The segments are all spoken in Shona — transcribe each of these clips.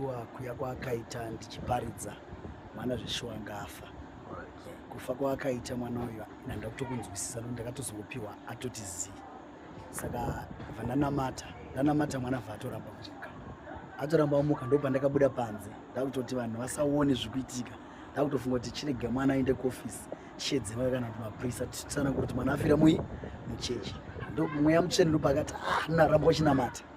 Shuwa kuya kwaakaita ndichiparidza mwana zveshuwa ngafa. Kufa kwaakaita mwana uyu ndanga kutokunzwisisa nokuti ndakatozongopiwa atoti zii. Saka vandanamata ndanamata mwana vha atoramba kuchika. Atoramba amuka ndipo pandakabuda panze ndakutoti vanhu vasaone zviri kuitika. Ndakutofunga kuti chirega mwana aende kuofisi tishedzeva kana kuti maprisa tichitsana kuti mwana afira mui muchechi. Ndipo mweya mutsvene ndipo akati ah naramba uchinamata.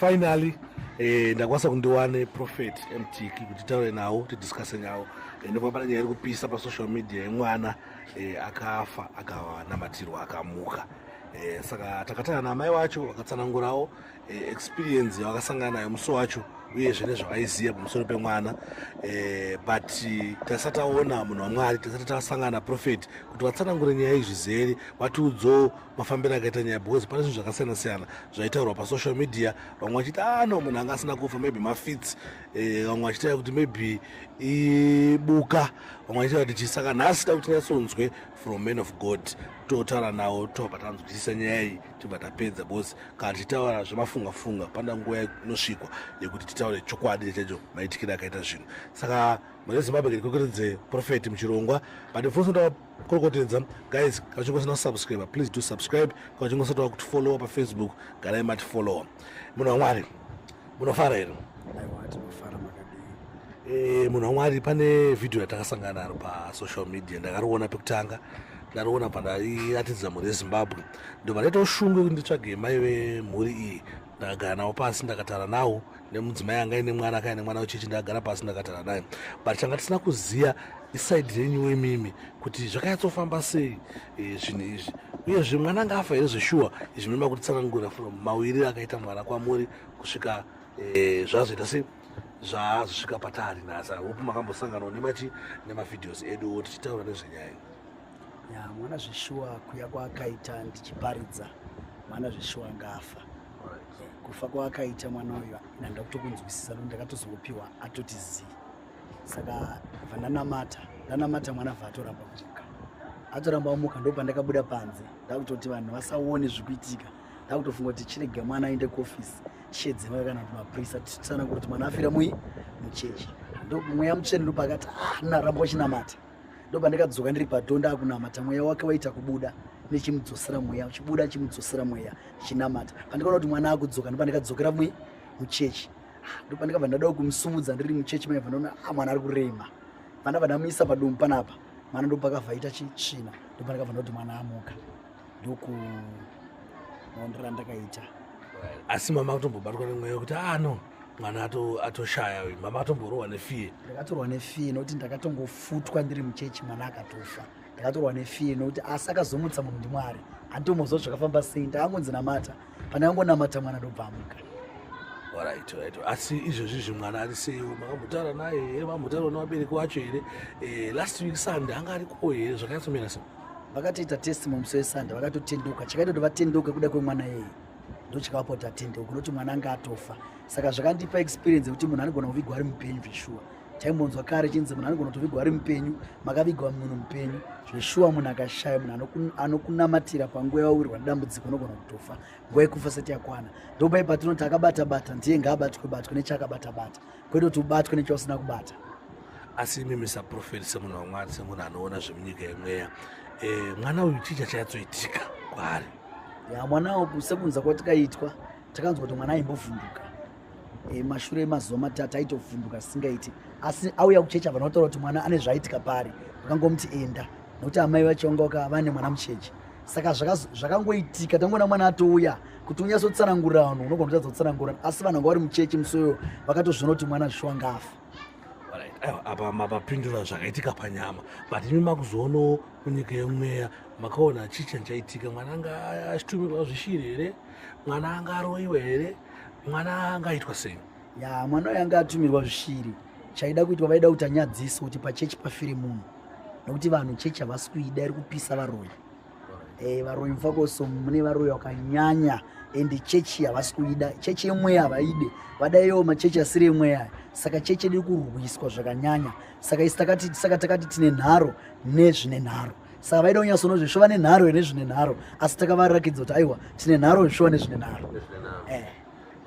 finally eh, ndakwanisa kundiwane prophet mtk kuti taure nawo tidiscuse nyawo eh, nekuva pane nyaya iri kupisa pasocial media yemwana eh, akafa akanamatirwa akamuka eh, saka takatana namai wacho vakatsanangurawo eh, experience yavakasangana nayo musi wacho uyezve nezvavaiziva pamusoro pemwana eh, but tasati taona munhu wamwari tasati tasangana prophet kuti vatsanangure nyaya izvi zeri vatiudzowo mafambiro akaita nyaya because pane zvinhu zvakasiyana siyana zvaitaurwa pasocial media vamwe vachiti a ah, no munhu anga asina kufa maybe mafits eh, vamwe vachitaura kuti maybe ibuka vamwe vachitaura kuti chisaka nhasi ta kuti nyatsonzwe from man of god totaura nawo tobva tanzwisisa nyaya iyi tibva tapedza because kana tichitaura zvemafunga funga panda nguva inosvikwa yekuti titaure chokwadi nechacho maitikire akaita zvinhu saka mune zimbabwe kekwekeredze profeti muchirongwa but mfosotaa korokotedza guys kana uchinge usina kusubscribe please do subscribe kana uchinge usati wakutifollowa pafacebook garai matifollowa munhu wamwari munofara here e, munhu wamwari pane vhidhiyo yatakasangana naro pasocial media ndakariona pekutanga ndariona pandairatidza mhuri yezimbabwe ndobva ndaita ushungu yekuti nditsvage mai vemhuri iyi ndakagara nawo pasi ndakatara nawo nemudzimai anga ine mwana akae nemwana wechechi ndakagara pasi ndakatara naye but tanga tisina kuziva isaidi renyu wemimi kuti zvakanyatsofamba sei e, zvinhu izvi uyezve mwana anga afa here zveshuwa izvi minoda kuti tsanangura from mawirire akaita mwana kwamuri kusvika e, zvazoita sei zvaazosvika patari nhasi hope makambosanganawo nemachi nemavideos edu tichitaura nezvenyaya ya mwana zveshuwa kuya kwaakaita ndichiparidza mwana zveshuwa ngafa kufa kwaakaita mwana uyu nanda kutokunzwisisa no ndakatozongopiwa atoti zii saka vandanamata ndanamata mwana vaatoramba kumuka atoramba amuka ndo pandakabuda panze ndakutoti vanhu vasaone zvikuitika ndakutofunga kuti chirege mwana aende kuofisi tishedzeva kana kuti mapurisa tisana kuti mwana afira mui muchechi ndomweya mutsvene ndopakati ah naramba uchinamata ndopandakadzoka ndiri padoor ndakunamata mweya wake waita kubuda nechimudzosera mweya chibuda chimudzosera mweya chinamata pandikaona kuti mwana akudzoka ndopandikadzokera mwe muchechi ah, ndopandikabva ndadao kumusumudza ndiri muchechi maibva ndaona ah, mwana ari kurema pandabva ndamuisa padumbu panapa mwana ndopakavhaita chitsvina ndopandikabva ndoti mwana amuka ndoku maonera ndakaita asi mama kutombobatwa nemweya wekuti ah no mwana atoshaya uyu mama atomborohwa nefie ndakatorwa nefie nokuti ndakatongofutwa ndiri muchechi mwana akatofa ndakatorwa nefie nokuti asi akazomutsa munhu ndimwari anditomozwa zvakafamba sei ndaangonzi namata pane angonamata mwana ndobvamuka orit orit asi izvezvi zvi mwana ari sei makambotaura naye here makambotaura nevabereki wacho here eh, last week sunday anga ariko here zvakanyatsomerasa vakatoita test mamusi wesande vakatotenduka chakaita kuti vatenduke kuda kwemwana yeye ndochakavapota tenduka kunoti mwana anga atofa saka zvakandipa experience yekuti munhu anogona kuvigwa ari mupenyu zveshuwa taimbonzwa kare chinzi munhu anogona kutovigwa ari mupenyu makavigwa munhu mupenyu zveshuwa munhu akashaya munhu anokunamatira panguva yawirwa nedambudziko unogona kutofa nguva yekufa sati yakwana ndopai patinoti akabatabata ndiye ngaabatwe batwe nechaakabatabata kwete kuti ubatwe nechausina kubata asi imi misa profet semunhu wamwari semunhu anoona zvemunyika yemweya e, mwana uyu chii chachayatsoitika kwaari ya mwana uku sekunza kwatikaitwa takanzwa kuti mwana aimbovhunduka e, mashure emazuva matatu aitovhunduka singaiti asi auya kuchecha vanotaura kuti mwana ane zvaitika pari vakangomuti enda nokuti amai vachongoka vane mwana mucheche saka zvakangoitika tangoona mwana atouya kuti unyatsotsanangurira vanhu unogona kutadza kutsanangurira asi vanhu vanga vari muchechi musoyo vakatozviona kuti mwana zvishuwa ngafa apa mapapindura zvakaitika panyama but imi makuzoonawo munyika yemweya makaona chii chan chaitika mwana anga achitumirwa zvishiri here mwana anga aroiwa here mwana angaitwa sei ya mwana uyo anga atumirwa zvishiri chaida kuitwa vaida kuti anyadziswe kuti pachechi pafire munhu nokuti vanhu chechi havasi kuida iri kupisa varoyi e, varoyi mfakoso mune varoyi vakanyanya and chechi havasi kuida chechi yemweya havaide vada iyo machechi asiri yemweya saka chechi iri kurwiswa zvakanyanya saka isi takati saka takati tine nharo nezvine nharo saka vaida kunyasono zvesho vane nharo nezvine nharo asi takavarakidza kuti aiwa tine nharo zvesho nezvine nharo eh.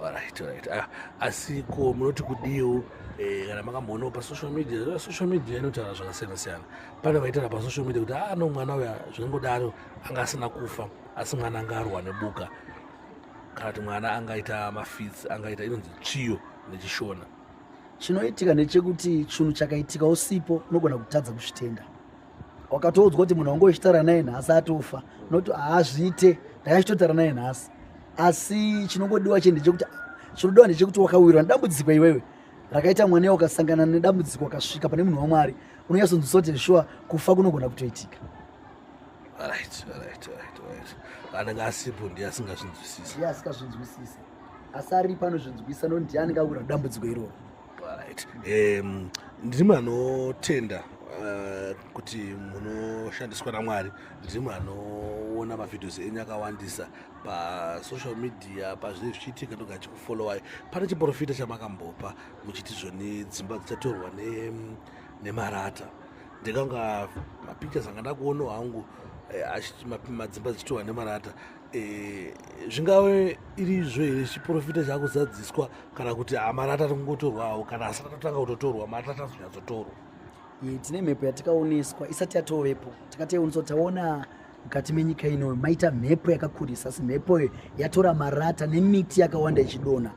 Alright, alright. Ah, asi ko munoti kudiwo eh, kana makamboonawo pasocial media eh, social media inotaura zvakasiyana siyana pane vaitaura pasocial media kuti ah no mwana uya zvinongodaro anga asina kufa asi mwana anga arwa nebuka kana kuti mwana angaita mafits angaita inonzi tsviyo nechishona chinoitika ndechekuti chinhu chakaitika usipo unogona kutadza kuzvitenda wakatoudzwa kuti munhu wange uchitaura naye nhasi atofa not haazviite ndakachitotaura naye nhasi asi chinongodiwa che ndechekuti chinodiwa ndechekuti wakawirwa nedambudziko iwewe rakaita mwana iye ukasangana nedambudziko akasvika pane munhu wamwari unonyatsonzwisa kuti shuwa kufa kunogona kutoitika right, right, right, right. anenge asipo ndiye asingazvinzwisisi ndiye asingazvinzwisisi asi aripo anozvinzwisa no ndiye anenge akura dambudziko iroro Right. Um, ndiri munhu anotenda uh, kuti munoshandiswa namwari ndiri munhu anoona mavhidhios enyu akawandisa pasocial media pazvinee zvichiitika ndoga achikufollowai pane chiprofita chamakambopa muchiti zvoni dzimba dzichatorwa nemarata ne ndikanga mapictures anga ndakuonawo hangu eh, madzimba dzichitorwa nemarata Eh, zvingave irizvo here chiprofita chakuzadziswa kana kuti hamara atati kungotorwawo kana asati atotanga kutotorwa mari tati azonyatsotorwa eh, tine mhepo yatikaoneswa isati yatovepo takati yeuniswa kuti taona mukati menyika ino maita mhepo yakakurisa asi mhepo iyo yatora marata nemiti yakawanda ichidona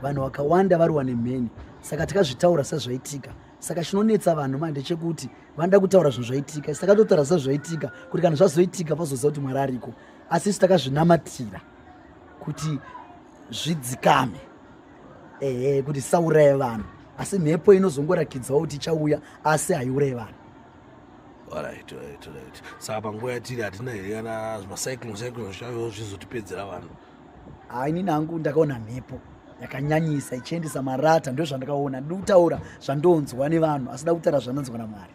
vanhu vakawanda varowa nemheni saka takazvitaura sezvaitika saka chinonetsa vanhu manje ndechekuti vanoda kutaura zvinhu zvaitika isi takatotaura zisa zvaitika kuti kana zvazoitika vazoziva kuti mwari ariko asi isu takazvinamatira kuti zvidzikame ehe kuti isauraya vanhu asi mhepo inozongorakidzawo kuti ichauya asi haiuraye vanhu orit orit orit saka panguva yatiri hatina here kana macyclon cyclon zvichauyawo zvizotipedzera vanhu haa inini hangu ndakaona mhepo yakanyanyisa ichiendesa marata ndo zvandakaona ndi kutaura zvandonzwa nevanhu asi da kutaura zvanonzwa namwari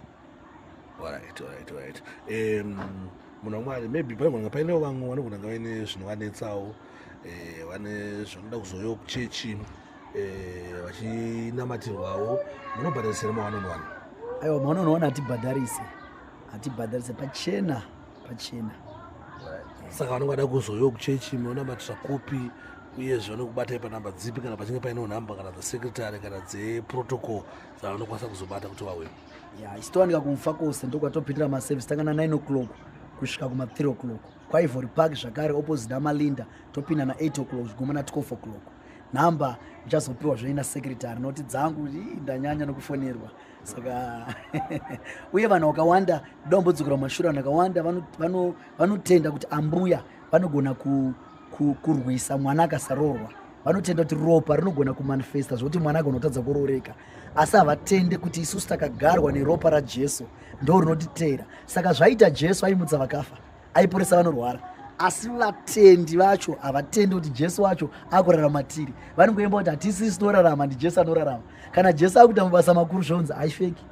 munhu wamwari maybe paigona painewo vamwe vanogona nga vaine zvinhu vanetsawo eh, vane zvanoda kuzoyo kuchechi eh, vachinamatirwawo munobhadharisira mawanonwana aiwa mawanonwana hatibhadharise hatibhadharise pachena pachena saka vanenge vada kuzoyo kuchechi munonamatira kupi uyezve vanokubatai panhamba dzipi kana pachinge paine nhamba kana dzasecretary kana dzeprotocol dzavanokwanisa kuzobata kuti vauye ya isitowanika kumfa kose ndokwatopindira maservice tangana 9 o'clock kusvika kuma 3 o'clock kwaivory park zvakare opposite amalinda topinda na 8 o'clock zviguma na 12 o'clock nhamba ndichazopiwa zvoina secretary noti dzangu ndanyanya nokufonerwa saka uye vanhu vakawanda dombodzokera mumashura vanhu vakawanda vanotenda kuti ambuya vanogona kurwisa mwana akasaroorwa vanotenda kuti ropa rinogona kumanifesta zvokuti mwana agona kutadza kurooreka asi havatende kuti isusu takagarwa neropa rajesu ndo rinotiteera saka zvaita jesu aimutsa vakafa aiporesa vanorwara asi vatendi vacho havatendi kuti jesu wacho akurarama tiri vanongoimba kuti hatisisi torarama ndijesu anorarama kana jesu akuita mabasa makuru zvonzi haifeki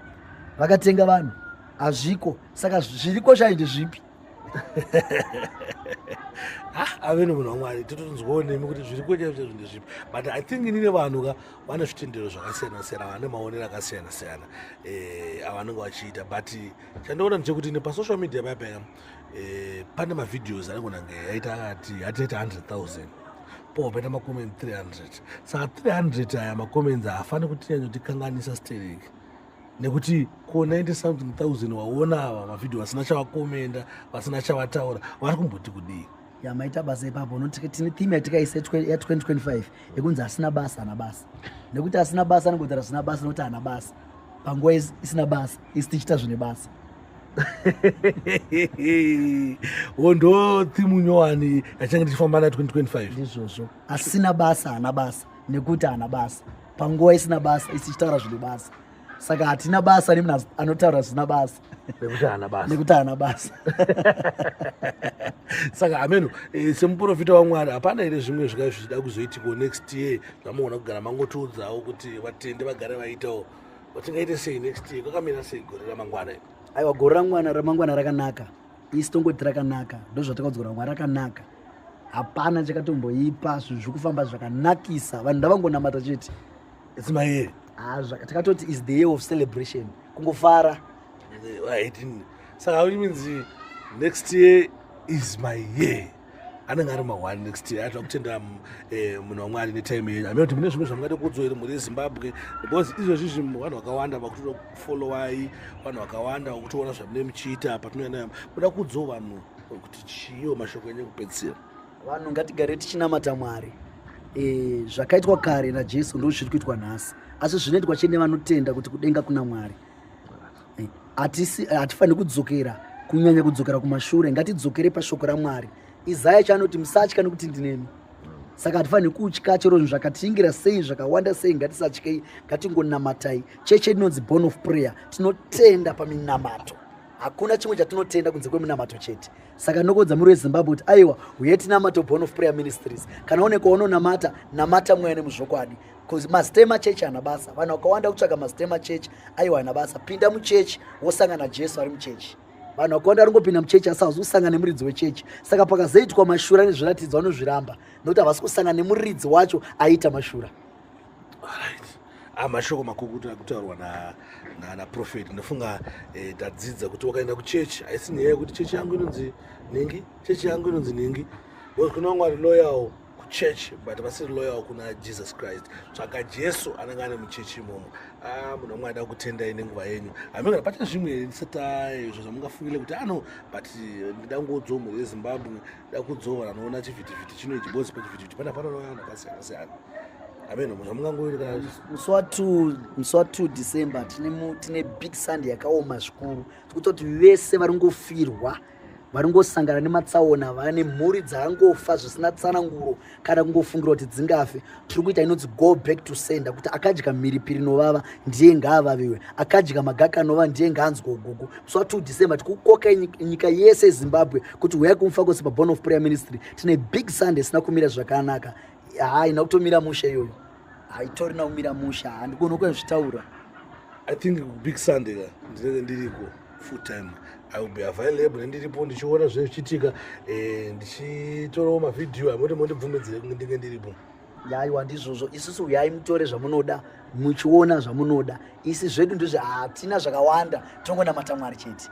vakatenga vanhu hazviko saka zviriko chai ndezvipi ah, ave nemunhu wamwari totonzwawo nemi kuti zviri kuchaizvezvo ndezvipi but i think inine vanhu ka vane zvitendero zvakasiyana siyana vane maonero akasiyana siyana eh, avanenge vachiita but chandoona ndechekuti nepasocial media paya paya eh, pane mavideos anongonange yaita akati hatiita 100 000 po paita macoment 300 saka 300 aya macoments haafani kuti yanyotikanganisa sterek nekuti ko 90 something thousand waona ava mavhidhio vasina chavakomenda vasina chavataura vari kumboti kudii ya maita basa ipapo unoti tine theme yatikaisa ya 2025 yekunzi asina basa ana basa nekuti asina basa anongotaura zvisina basa nokuti ana basa panguva isina basa isi tichiita zvine basa hondo thimu nyowani yachange tichifamba na 2025 ndizvozvo asina basa ana basa nekuti ana basa panguva isina basa isi tichitaura zvine basa saka hatina basa nemunhu anotaura zvisina basa nekuti haana basa nekuti haana basa saka hameno eh, semuprofita wamwari hapana here zvimwe zvikai zvichida kuzoitiko next year zvamogona kugara mangotiudzawo kuti vatende vagare vaitawo vatingaite sei next year kwakamira sei gore ramangwana aiwa gore ramwana ramangwana rakanaka isi tongoti rakanaka ndozvatakaudzwa ramwari rakanaka hapana chakatomboipa zvinhu zviri kufamba zvakanakisa vanhu ndavangonamata chete it's my year ah zvaka takatoti is the year of celebration kungofara aitini saka how means next year is my year anenge ari mahwani next year atira kutenda eh, munhu wamwari netime yenyu amene kuti mune zvimwe zvamungade kudzoi mhuri yezimbabwe because izvozvi zvinhu vanhu vakawanda vakutoda kufollowai vanhu vakawanda vakutoona zvamune muchiita patinoenda kuda kudzo vanhu kuti chiiwo mashoko enyu ekupedzisira vanhu ngatigare tichinamata mwari e, zvakaitwa kare najesu ndo zviri kuitwa nhasi asi zvinoitwa chete nevanotenda kuti kudenga kuna mwari e, hatifaniri kudzokera kunyanya kudzokera kumashure ngatidzokere pashoko ramwari izaya chaanoti musatya nekuti ndinemi saka hatifaniri kutya chero zvinhu zvakatingira sei zvakawanda sei ngatisatyei ngatingonamatai cheche inonzi born of prayer tinotenda paminamato hakuna chimwe chatinotenda kunze kweminamato chete saka nokodza muri wezimbabwe kuti aiwa huye tinamata born of prayer ministries kana one kwaunonamata namata mweya nemuzvokwadi bcause mastema church ana basa vanhu vakawanda kutsvaka mastema church aiwa ana basa pinda muchechi wosangana jesu ari muchechi vanhu vakawanda vanongopinda muchechi asi havazi kusangana nemuridzi wechechi saka pakazoitwa mashura nezviratidzo vanozviramba nokuti havasi kusangana nemuridzi wacho aiita mashura Ah, mashoko makukutu akutaurwa naprofet na, na ndofunga eh, tadzidza kuti wakaenda kuchechi haisi nyaya yekuti chechi yangu inonzi ningi chechi yangu inonzi ningi because kune vamwe vari loyal kuchechi but vasiri loyal kuna jesus christ tsvaka jesu anenge ane muchechi imomo ah, munhu wamwe aida kutendai nenguva yenyu hamingana pachine zvimwe ndisata izvo zvamungafungile kuti ano ah, but eh, ndidangudzo mhuri yezimbabwe dakudzora anoona chivhitivhiti chino ichi bozi pachivhitivhiti pana panonouya vanhu akasiyana siyana ameno munhu amungangoerekana musi wa 2 december tine big sunday yakaoma zvikuru tikutoti vese vari ngofirwa vari ngosangana nematsaona vane mhuri dzaangofa zvisina tsananguro kana kungofungira kuti dzingafe tiri kuita inonzi go back to sender kuti akadya mhiripiri inovava ndiye ngaavaviwe akadya magaka anova ndiye ngaanzwa ugugu musi wa 2 december tikukoka nyika yese yezimbabwe kuti huyai kumufa kwese paborn of prayer ministry tine big sunday isina kumira zvakanaka haina kutomira musha iyoyo haitorina kumira musha handikuona kuzvitaura i think big sunday ka ndinenge ndiriko full time i will be available ndiripo ndichiona zvinenge zvichiitika eh, ndichitorawo mavhidhiyo amoti mondibvumidzire kunge ndinge ndiripo yaiwa ndizvozvo isusu uyai mutore zvamunoda muchiona zvamunoda isi zvedu ndizve hatina zvakawanda tongonamata mwari chete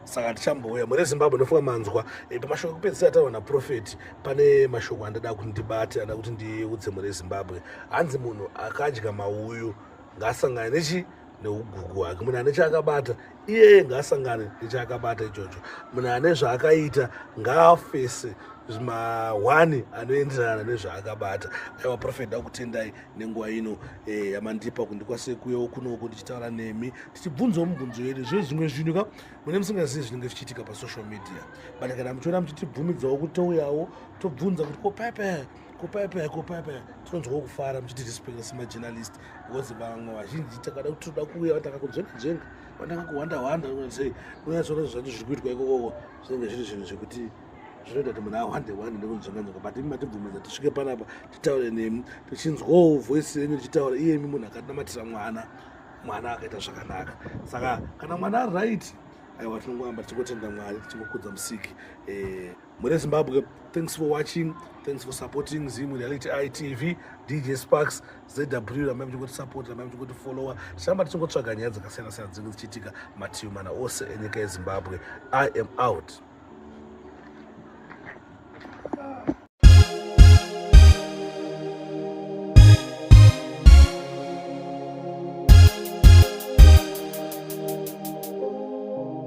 saka tichambouya mune zimbabwe ndofunga manzwa eh, pamashoko ekupedzisira ataurwa naprofeti pane mashoko andada kuti ndibate andada kuti ndiudze mune zimbabwe hanzi munhu akadya mauyu ngaasangane nechi neugugu hwake munhu ane chaakabata iyeye ngaasangane nechaakabata ichocho munhu ane zvaakaita ngaafese mahwani anoenderana nezvaakabata aiwa profet ndakutendai nenguva ino eh, yamandipa kundikwasekuyewo kunoko ndichitaura nemi tichibvunzawo mubvunzo yedu zve zvimwe zvinhu ka mune musingazivi zvinenge zvichiitika pasocial media but kana muchiona muchitibvumidzawo kutouyawo tobvunza kuti ko paipai kupaipa kupaipa tinonzwawo kufara muchiti respect semajournalist because vamwe vazhinji takada kuti tinoda kuuya vatanga kujengajenga vatanga kuhwanda hwanda sei unyatsona zvacho zviri kuitwa ikokoko zvinenge zviri zvinhu zvekuti zvinoita kuti munhu ahwande hwande nekunzvanganzvanga but imi matibvumidza tisvike panapa titaure nemi tichinzwawo voice yenyu tichitaura iyemi munhu akanamatira mwana mwana akaita zvakanaka saka kana mwana ari right aiwa tinongoamba tichingotenda mwari tichingokudza musiki eh, Mune Zimbabwe, thanks for watching, thanks for supporting Zim Reality ITV, DJ Sparks, ZW, ramai muchingoti support, ramai muchingoti follower. Tichamba tichingotsvaga nyaya dzakasiyana siyana dzinenge dzichiitika mativi mana ose enyika yeZimbabwe. I am out.